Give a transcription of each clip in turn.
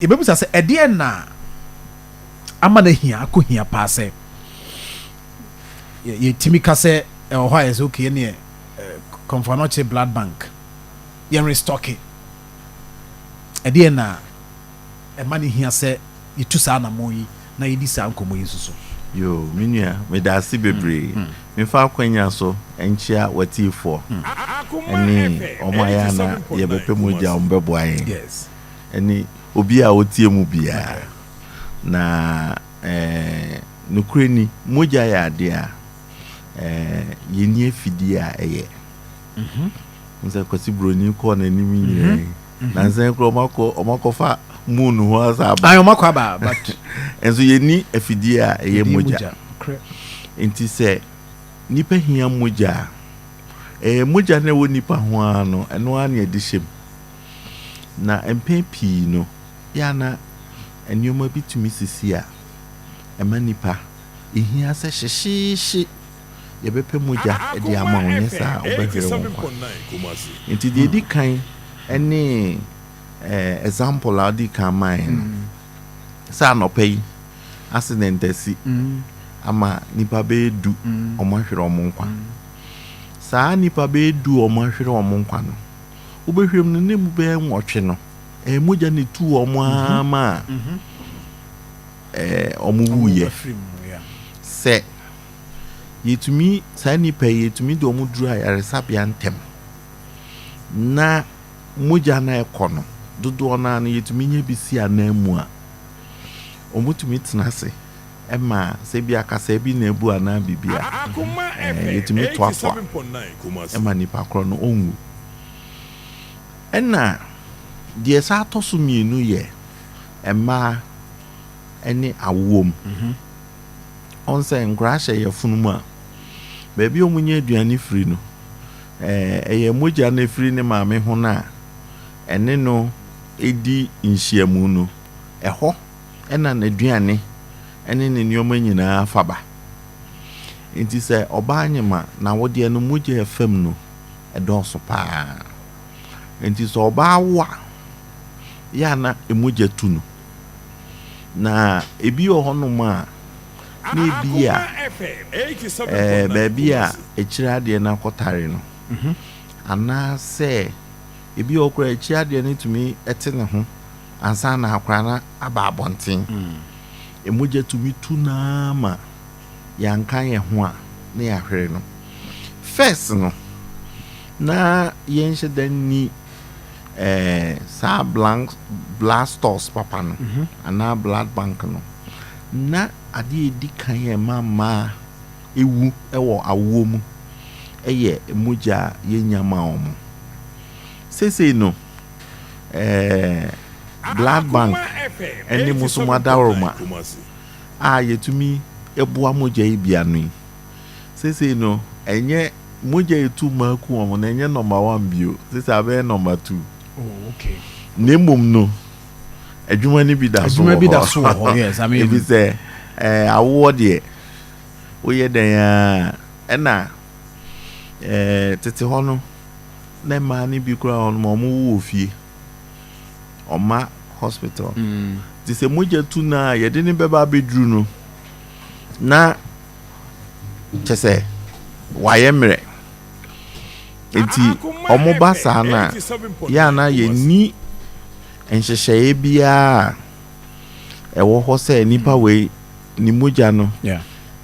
Yɛbɛbisa sɛ, Ɛdeɛn na ama no ahia, akɔ hia paa sɛ yɛtumi ka sɛ ɛwɔ hɔ a yɛsɛ okay ɛneɛ Kɔmfoanɔkye Blood Bank yɛn restocke? Ɛdeɛn na ɛma no hia sɛ yɛtu saa anamɔn yi na yɛdi saa nkɔmmɔ yi nso so? Yoo, me nua, medaase bebree. Memfa akwanya so nkyea w'atiefoɔ ne wɔn a yɛ a na yɛbɛpɛ mogya a wɔbɛboa yɛn. ne obi a ɔteɛ mu biara. Na nokorɛ ni, mogya yɛ adeɛ a yɛnni afidie a ɛyɛ. Wohu sɛ Kwasi Buroni kɔɔ n'anim nyinaa yi, nansa yi koraa wɔakɔfa moon hɔ asa aba. Nso yɛnni afidie a ɛyɛ mogya. Nti sɛ nnipa hia mogya a, mogya no a ɛwɔ nnipa ho ara no, ɛno ara na yɛde hyɛ mu. Na mpɛn pii no, ebia na nneɛma bi tumi sisi a ɛma nnipa hia sɛ hyehyeehye yɛbɛpɛ mogya de ama wo, anyɛ saa a wobɛhwere wo nkwa. Enti deɛ ɛdi kan ne example a wodi kan mae no, sɛ anɔpa yi accident asi ama nnipa bɛyɛ du wɔahwere wɔn nkwa. Saa nnipa bɛyɛ du a wɔahwere wɔn nkwa no, wobɛhwɛm no ne mu bɛyɛ nwɔtwe no, ɛyɛ mogya ne tu wɔn ara mhm. ma a mhm. wɔn wuyɛ. Sɛ yɛtumi saa nnipa yi yɛtumi de wɔn duru ayaresabea ntɛm na mogya no ɛkɔ no dodoɔ no ara no yɛtumi nya bi si anan mu a wɔtumi tena ase. ɛma sɛ bi a kasaa bi na abu anaa biribi a, ɛɛ yɛtumi toatoa ɛma nipa korɔ no ɔnwu. Ɛna deɛ ɛsan atɔ so mmienu yɛ mmaa ɛne awoɔ mu. Ɔn sɛ nkoraa hyɛ yafunu mu a, baabi a wɔnya aduane firi no, ɛɛ ɛyɛ mogya no ɛfiri ne maame ho no a ɛne no ɛdi nhyiamu no, ɛhɔ. ɛna n'aduane ne ne nneɛma nyinaa fa ba. Enti sɛ ɔbaa nyem a, n'awodeɛ no mogya a ɛfam no dɔɔso pa ara. Enti sɛ ɔbaa wo a, yɛ a na mogya tu no. Na ebi wɔ hɔnom a, na ebia ɛɛ baabi a akyire adeɛ no akɔtare no, anaasɛ ebi wɔ hɔ koraa a akyire adeɛ no tumi te ne ho. ansa na akwadaa no aba abɔnten. Mogya tumi tu no ara ma yɛanka yɛn ho a na yɛahwere no. First no, na yɛnhyɛ da nni eh, saa blank, blood stores papa no mhm. anaa blood bank no. Na adeɛ a ɛdi kan yɛ ma mmaa ewu wɔ awoɔ mu yɛ mogya a yɛnya ma wɔn. Seesei no, Ɛɛ blood bank ɛne mo so mo adaworoma a yɛtumi boa mogya yi bia no yi sesei no ɛnyɛ mogya etu mako wɔn no ɛnyɛ number one bio sesei abɛyɛ number two na mmom no adwuma no bi da so wɔ hɔ ebi sɛ ɛɛ awoɔ deɛ woyɛ dɛn a ɛna ɛɛ tete hɔ no. na mmaa no bi koraa wɔ hɔ no wɔwo wɔ fie. Wɔmma hospital. Nti sɛ mogya tu no a yɛde no bɛba abɛduru no na kyɛ sɛ wayɛ mmerɛ. Nti wɔba saa no a yɛ a na yɛnni nhyehyɛeɛ biara a ɛwɔ hɔ sɛ nipa wei ne mogya no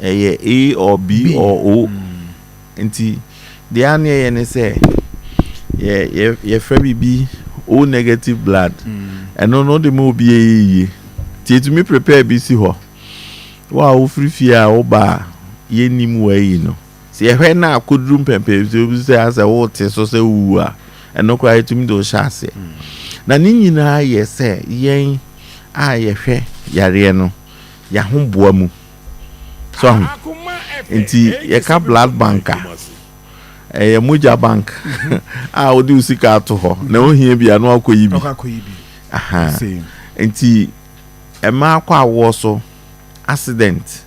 ɛyɛ A or B or O. Nti deɛ a ne yɛyɛ ne sɛ yɛ yɛ yɛfrɛ biribi o negative blood mm. ɛno no de ma obi yɛ yie nti etumi prepare bi si hɔ wo a wofiri fie a woba a yɛnnim wɔayi no sɛ yɛhwɛ no a koduru mpɛmpɛn so bi sɛ asɛ wote so sɛ wowu a ɛno koraa yɛtumi de wohyɛ aseɛ mm. na ne nyinaa yɛ sɛ yɛn a yɛhwɛ yareɛ no yɛahoboa mu So ahu? Enti yɛka blood bank a, ɛyɛ mogya bank a wode wo sika ato hɔ na wohia bi a na wakɔyi bi. Aha. Enti ɛma akɔ awoɔ so accident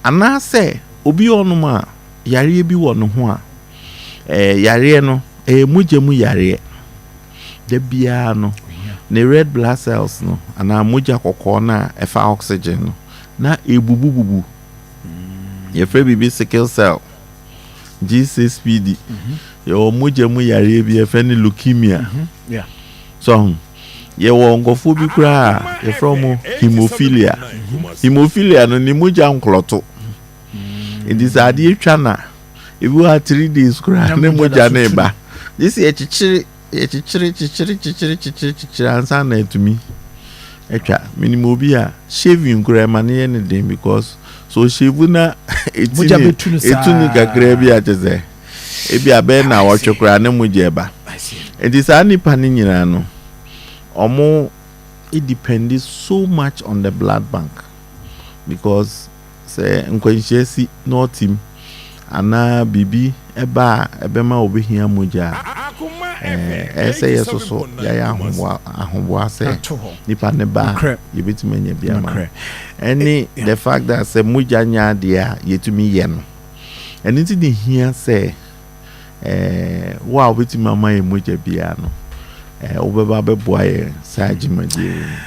anaasɛ obi ɔnom a yareɛ bi wɔ ne ho a eh, yareɛ no ɛyɛ mogya mu yareɛ da biara no ne red blood cells no anaa mogya kɔkɔɔ no a ɛfa oxygen no na ebubububu. Yɛfrɛ biribi sickle cell, GSPD. Yɛwɔ mogya mu yareɛ bi yɛfrɛ no leukemia. So ho? Yɛwɔ nkurɔfoɔ bi koraa a yɛfrɛ wɔn hemophilia. Hemophilia no ne mogya nklɔto. Nti sɛ adeɛ twa no a, ebi wɔ ha three days koraa ne mogya no reba. Gye sɛ yɛkyekyere Yɛkyekyere kyekyere kyekyere kyekyere kyekyere ansa na atumi atwa. Menim obi a shaving koraa ɛma no yɛ ne den because so ɔhyɛvu na ɛti ne ɛtu ne kakraa bi a kyɛ sɛ ebi abɛyɛ na wɔtwe koraa ne mogya ɛba. Nti saa nipa no nyinaa no ɔmo it depends so much on the blood bank because sɛ nkwanhyia si na ɔte mu anaa biribi ba a ɛbɛma obehia mogya a, ɛyɛ sɛ yɛsoso yɛayɛ ahoboa sɛ nipa no ba a, yebetumi anya bi ama no. Ɛne the fact that sɛ mogya nyɛ adeɛ a yetumi yɛ no. Ɛno nti na ehia sɛ wo a wobetumi ama yɛn mogya biara no, wobɛba abɛboa yɛn saa dwumadie yi mu.